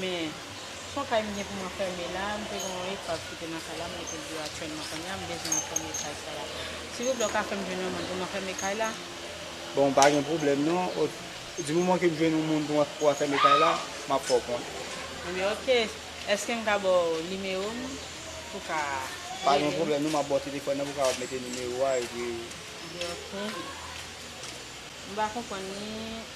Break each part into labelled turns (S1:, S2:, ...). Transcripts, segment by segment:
S1: Men, fò kay m gen pou m anfème la, m te gen yon epav ki te nan kay la, m mete l deyò aktyèlman kounya, m bezwen anfème kay sa la. Silvouplè ou ka fè m jwenn yon moun pou m anfème kay la? Bon, pa
S2: gen pwoblèm non, di moman ke m jwenn yon moun pou anfème kay la, m ap fè w konnen. Ebyen ok,
S1: èske m ka ba w nimewo m pou w ka rele m? Pa gen pwoblèm
S2: non, m ap ba w telefòn nan pou w kapab mete nimewo a epi. Ebyen ok,
S1: m pa konprann ni.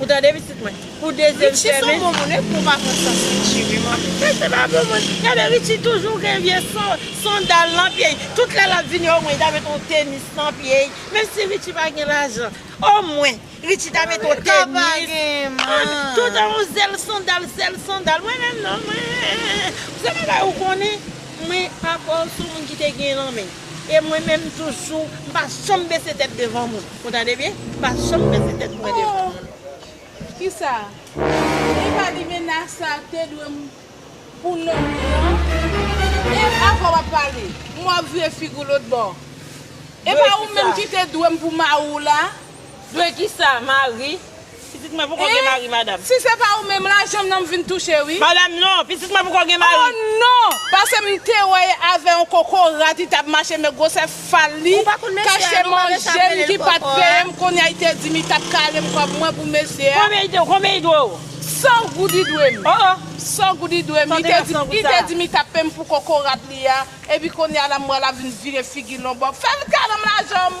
S3: Ou tande pitit mwen? Pou dezyèm Richie sèmen. son bon moun e pou
S1: vakans sa pou Richie wi man. Richie se pa bon moun.
S3: Gade Richie toujou gen vye sandal nan pye l. Tout lè lap vini o mwen li ta met on tenis nan pye l. Menm si Richie pa gen lajan. O mwen Richie ta met on tenis. Sa pa gen man. Toutan on zèl sandal zèl sandal. Mwen menm non mwen se yon bagay ou konnen mwen avè w son moun ki te gen lan men. E mwen menm toujou m pa janm bese tèt devan moun. Ou tande byen? M pa janm bese tèt mwen devan moun. Kisa?
S4: Li pa di menas sa te dwe m pou lontan? E avwa w ap pale? M wè w ap vire figi w lotbò. E pa ou menm ki te dwe m pou mari w la? Dwe kisa?
S3: Mari? Pitit mwen poko gen mari madam. Hein si se pa ou menm la
S4: janm nan m vin touche wi. Madam non pitit mwen
S3: poko gen mari. Oh non
S4: pase m te wè e avè yon koko rat li tap mache men grosè fal li kache manjem ki pat peye m konya li te dim li tap kale m kob mwen pou mesye a. Konbyen li dwe
S3: ou? 100 goud li
S4: dwe m. Oh oh. 100
S3: goud li dwe
S4: m li te dim li te dim li tap peye m pou koko rat li a epi konya la m wè lap vin vire figi lonbòp fèl kale m lajan m.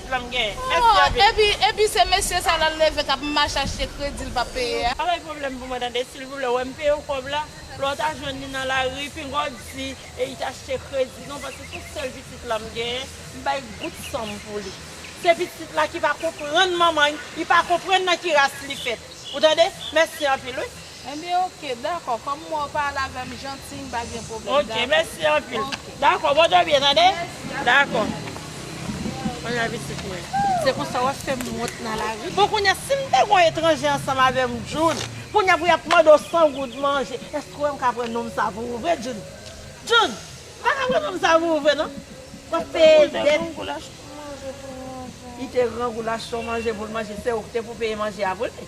S3: Oh epi
S4: epi se mesye sa lal leve kap mach achte kredi l pap peye a. Pa bay pwoblèm pou mwen
S3: tande silvouplè wèm peye w kòb la lè w ta jwenn li nan lari pinga w di e it achte kredi non paske tout sèl pitit la m genyen m bay gout san m pou li se pitit la ki pa konprann manman li pa konprann nan ki ras li fèt ou tande mèsi anpil wi. Enbyen ok
S4: dakò kòm m wè w pale avè m jantiy m pa gen pwoblèm dakò. Ok mèsi anpil.
S3: Dakò bon dòmi tande. Mèsi a dakò. Mwen nan pitit mwen. Se konsa wap fè m wont nan lavi. Bon kounya si m te gon etranje ansanm avè m Djoul kounya pou yap mande w 100 goud manje èske w wè m ka pran nonm sa pou ou vre Djoul? Djoul! M pa ka pran nonm sa pou ou vre non. Wap peye dèt. Li te gran goulash pou manje pou l manje se ou ki te pou peye manje a pou li.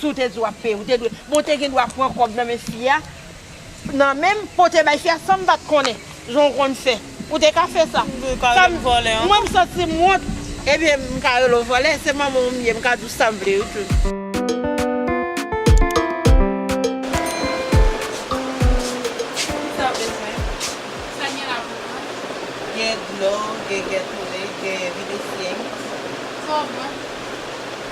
S3: Si w te di w ap peye, ou te dwe. Bon, w te gen dwa pran kòb nan men fi a, nan men m, pote bay fi a san m pa t konnen, jan w konn fè. Ou te ka fè sa. Ou pa rele m vòlè ankò. Mwen m santi m wont. Ebyen, m ka rele w vòlè. Se manman w m ye, m ka di w sa m vle yo tou. Kisa w bezwen? Sa gen la pou mwen? Gen dlo, gen Gatorade, gen Videssienne. Sa
S4: w pran?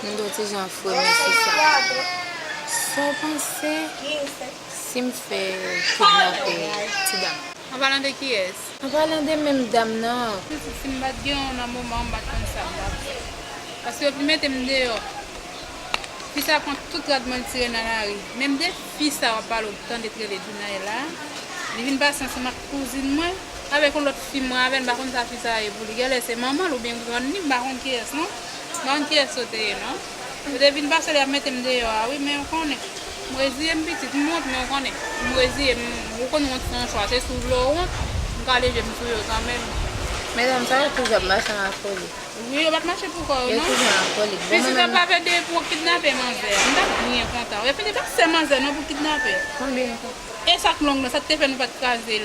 S5: M gen yon ti jan fremi sou sa. Sa w panse si m fè kidnape ti dam nan? An palan de kiyès?
S4: An palan de menm
S5: dam nan. Pitit si m pa t gen
S4: w nan moman an m pa t konn sa m t ap fè. Paske yo vin mete m deyò. Fi sa pran tout rad mwen l tire nan lari. Menm de fi sa w ap pale w tande k rele Dunay la, li vin pase ansanm ak kouzin mwen, avèk yon lòt fi mwen avè l m pa konn sa fi sa ye pou li. Genlè se manman l oubyen grann li m pa konn kiyès non. Bann kiyes yo te ye non. Yo te vin pase li ap metem deyò a wi men ou konnen m reziyem pitit m wont men ou konnen m reziyem ou konn wont se yon chwa se si w vle ou wont m kale jem sou yo kanmenm. Medam sa yo
S5: toujou ap mache an akolik. Wi yo pat mache
S4: pou kò yo non. Yo toujou an akolik. Bon mwen menm.
S5: Pitit ap lave de
S4: pou kidnape manzè a. M tap byen kontan. Yo fini pa sè manzè non pou kidnape. Konbyen yo
S5: fè. Esak long
S4: nan sa te fè nou pat krazel.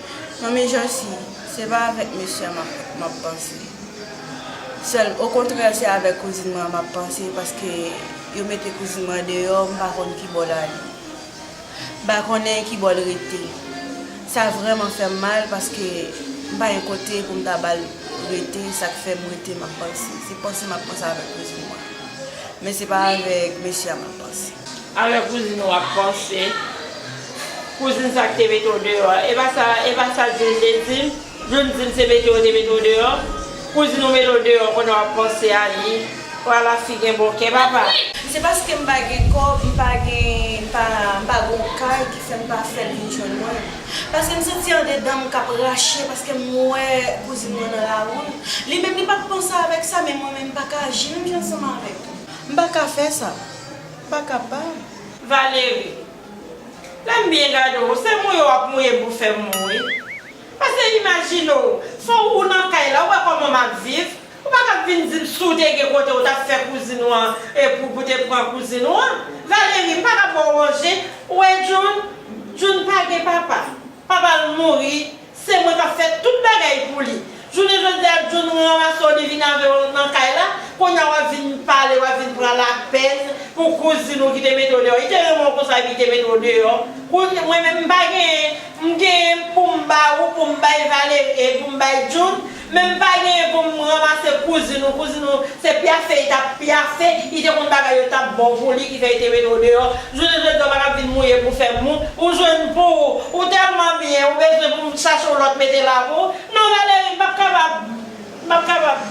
S3: Manmi Josi,
S4: se pa avèk mesye a m ap panse sèl, okontrè se avèk kouzin mwen an m ap panse paske yo mete kouzin mwen an deyò m pa konn kibò l ale, m pa konnen kibò l rete. Sa vrèman fè m mal paske m pa gen kote pou m ta ba l rete sa k fè m rete m ap panse. Se panse m ap panse avèk kouzin mwen an. Men se pa avèk mesye a m ap panse. Alò kouzin ou
S3: ap panse. Kouzin sa ki te mete w deyò a. E pa sa, e pa sa Djoul te di m. Djoul di m se mete yo te mete w deyò. Kouzin ou mete w deyò konnen w ap panse a li. O ala fi gen bon kè papa. Se paske m pa
S4: gen kòb, m pa gen, m pa, m pa gen yon kay ki fè m pa fè l vin jwenn mwen. Paske m santi andedan m k ap rache paske m wè kouzin mwen nan lari. Li menm li pa t panse avèk sa men mwen menm m pa ka aji menm jan ansanm avèk. M pa ka fè sa. M pa kapab. Valery.
S3: Lè m byen gade w, se mouye w ap mouye pou fè m mou wi. Pase imajine w, fò ou nan kay la, ou wè kòman m ap viv. Ou pa kab vin di m si w te gen kote ou t ap fè kouzin ou an e pou pou te pran kouzin ou an. Valery. M pa kab ba w manje. Ou wè June? June pa gen papa. Papa l mouri. Se mwen kap fè tout bagay pou li. Jounen jodi a John ranmase w li vin avè w nan kay la, kounye a wap vin pale wap vin pran lapèn pou kouzin ou ki te mete w deyò. Li te renmen w konsa epi li te mete w deyò. Kounye mwen menm m pa gen m gen pou m ba ou pou m bay Valerie e pou m bay John Men m pa genyen pou m ranmase kouzin ou, kouzin ou se pyafe li t ap pyafe, li te konn bagay yo t ap bon pou li ki fè li te mete w deyò, jounen jodi a w pa ka vin mouye pou w fè mou, ou jwenn pou ou, ou tèlman byen ou bezwen pou m chache w lòt mete la pou ou, non Valérie m p ap kapab, m p ap kapab.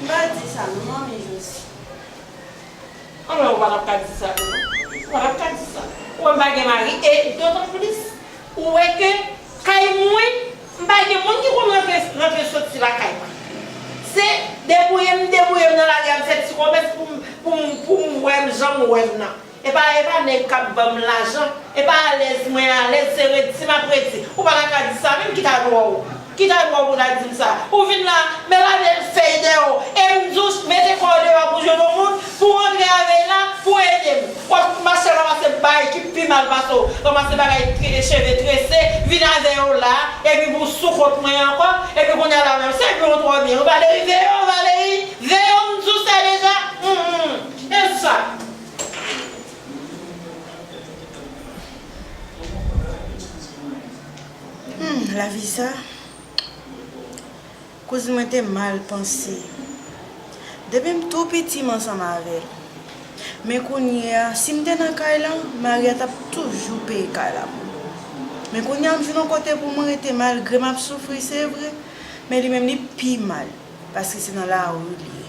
S3: M pa di sa non
S4: manmi Josi.
S3: Anmwey ou pa t ap ka di sa tou non, ou pa t ap ka di sa, ou wè m pa gen mari e dotan plis ou wè ke. Kay mwen, m pa gen moun ki konn rantre rantre soti lakay mwen. Se debouye m debouye m nan lari a m fè ti komès pou m pou m pou m wè m jan m wè m nan. E pa e pa nèg k ap ban m lajan, e pa alèz mwen alèz, se redi m ap redi. Ou pa ta ka di sa menm, ki ta dwa ou? Ki ta dwa ou pou ta di m sa? Ou vin la, men lave fèy dèyè w e m di w mete kò w deyò pou w jwenn yon moun? Pou Andre a veye la pou edem. Wap fout mache ramase bay ki pi mal pase w ramase bagay cheve trese vin avè yo la epi pou w sou kont mwen ankò epi kounya la menm se byen ou twò byen Valery veye w Valery veye w m di w sa deja humm e sa.
S4: Humm lavi sa. Kouz mwen te mal panse. Depi m tou piti m ansanm avè l. Men kounye a, si m te nan kay lan, Maria t ap toujou peye kay la pou mwen. Men kounye a m vin on kote pou mwen rete malgre m ap soufri se vre, men li menm li pi mal paske se nan lari li ye.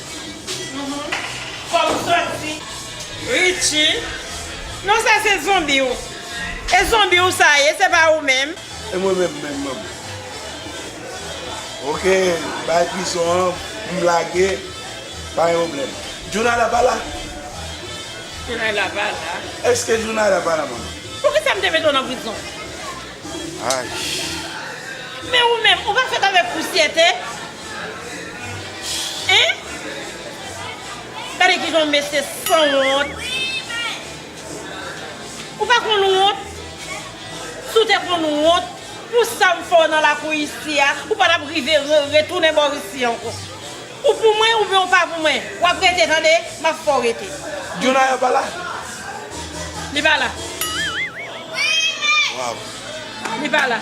S3: Fòm santi Richie Non sa se zonbi w E zonbi w sa ye se pa ou menm. E mwen menm menm
S6: menm Ok bay prizon an pou m lage pa gen pwoblèm Djounayda pa la?
S3: Djounayda pa la Eske Djounayda pa
S6: la manman? Poukisa m te mete w
S3: nan prizon?
S6: Ayy.
S3: Men ou menm ou pa fèt avèk pousyè te? Hein Gade kijan mesye san wont Ou pa konn wont Si w te konn wont pou sa m fè w nan lakou isi a ou pa tap rive retounen bò isi ankò Ou pou mwen oubyen ou pa pou mwen W ap rete tande M ap fè w rete Dionaya pa la? Li pa la
S6: Li pa
S3: la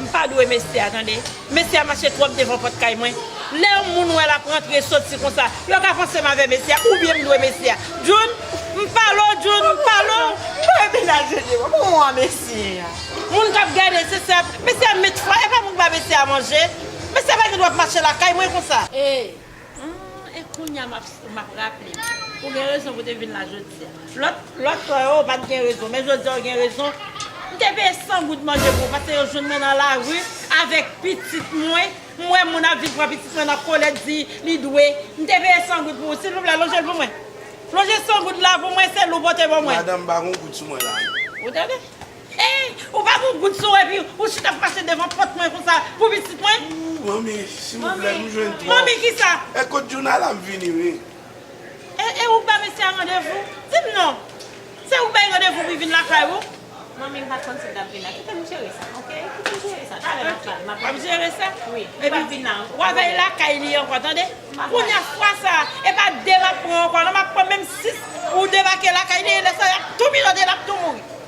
S3: M pa dwe mesye a tande. Mesye a mache twòp devan pòt kay mwen. Lè yon moun wè l ap rantre soti konsa, yo ka panse m avè mesye a oubyen m dwe mesye a. Djoun, M pale w Djoun, m pale w. M pa wè menaj yo
S1: devan. Kouman w a mesye a? Moun k ap gade,
S3: se sa. Mesye a met fwa, e pa mwen ki ba mesye a manje. Mesye a pa gen dwa ap mache lakay mwen konsa. E,
S4: Humm e
S3: kounya map raplem ou gen rezon pou te vin la jodia. Lòt fwa yo ou pat gen rezon men jodia ou gen rezon m te peye 100 goud manje pou ou pase yo jwenn mwen nan lari avèk pitit mwen m wè moun ap vin pran pitit mwen nan kolèt di li dwe m te peye 100 goud pou ou silvouplè lonjel pou mwen lonje 100 goud la pou mwen se lou pote ban mwen. Madanm pa gon goud sou mwen la
S7: non. Ou tande.
S3: Eeh ou pa gon gout sou ou epi ou chita ap mache devan pòt mwen konsa pou pitit mwen. Ooh manmi
S7: silvouplè m jwenn twòp. Manmi kisa? Eh kot
S3: Djouna la m
S7: vini wi. Eh eh
S3: ou k ba mesye a randevou? Di m non. Se ou k bay randevou pou l vin lakay ou? Manmi m pat konn
S1: si l t ap vin nan. Kite m jere sa ok. Kite m jere sa talè m ap pale. W ap jere
S3: sa? Wi. Li pap vin nan.
S1: W a
S3: veye lakay li ankò tande. Kounya fwa sa e pa 2 m ap pran ankò non m ap pran menm 6 ou debake lakay li e lè sa y ap tou mijote l ap tou mouri.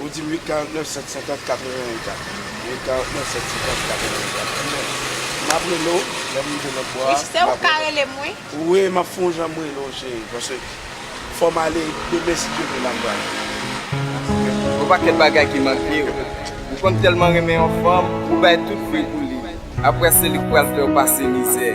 S7: Ou dim 849 750 84 849 750 84 Ebyen map rele w lèm rive lòt bò a Wi chise ou ka relem
S1: wi. Wi map fon jan
S7: m rele w cheri paske fòm ale demen si Dye ve map pral.
S8: Yon pakèt bagay ki manke w Ou konn tèlman renmen yon fanm ou bay tout vre pou li aprè se li k pral fè w pase mizè.